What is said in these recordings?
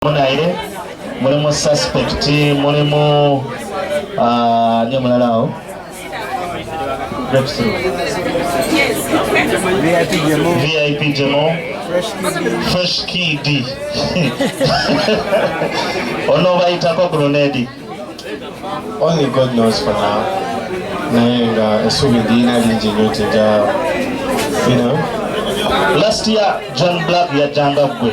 naye mulimu suspect mulimu ah, ni omulala awo vip jemo fresh kd onobayitako grenade only god knows for now naye nga esuubi ndiyina lingi nyo tija you know last year john black yajjanga gwe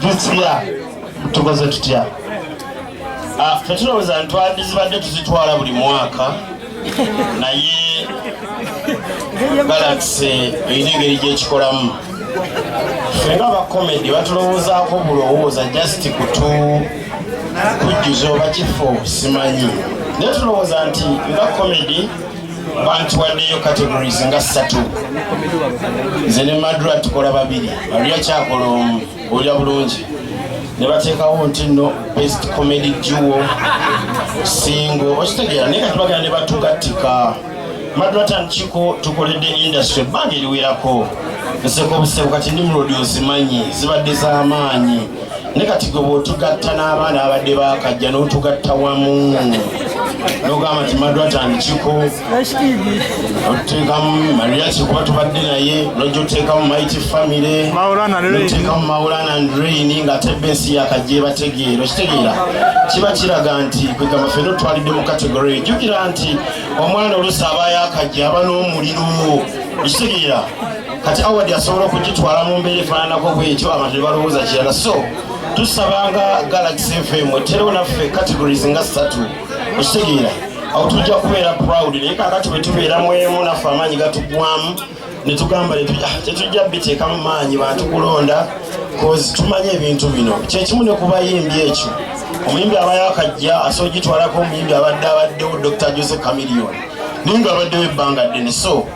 disiya tukoze tutya ah, fetulowooza ntwadizibadde tuzitwala buli mwaka naye galaxy erina engeri gyekikolamu fenga abakomedi batulowoozaako bulowooza just kutu kujjuza oba kifo simanyi naye tulowooza nti nga komedi bantuwaddeyo categories nga ssatu nze ne madra tukola babiri maria kyakola omu olya bulungi ne bateekawo nti no best comedy duo singo okitegeera naye kati bagenda ne batugattika madra tankiko tukoledde industry ebbanga eriwerako nseko obusebu kati ndi mulodi ozimanyi zibadde z'amaanyi ne kati gwe bwotugatta n'abaana abadde bakajja n'otugatta wamu nogamba nti madwatandikiko otuteekamu maria kikuba tubadde naye nojja otuteekamu mighty family otuteekamu maulana and rain nga ate bensi yakajja ebategeera okitegeera kiba kiraga nti kwegamba fena otwalidde mu kategori ejjukira nti omwana olusi aba yakajja aba n'omuliro okitegeera kati award asobola okugitwala mu mbeera efaananako bwekyo abantu nebalowooza kirala so tusabanga galaxy fm eterewo naffe categories nga satu okitegeera awo tujja kubeera proud naye kakati bwetubeera mwemu naffe amaanyi gatugwamu netugamba ah, tetujja biteeka mu maanyi bantu kulonda bcause tumanyi ebintu bino kyekimu ne kubayimbi ekyo omuyimbi aba yakajja asobola ogitwalako omuyimbi abadde abaddewo dr jose camilion naye nga abaddewo ebbanga ddene so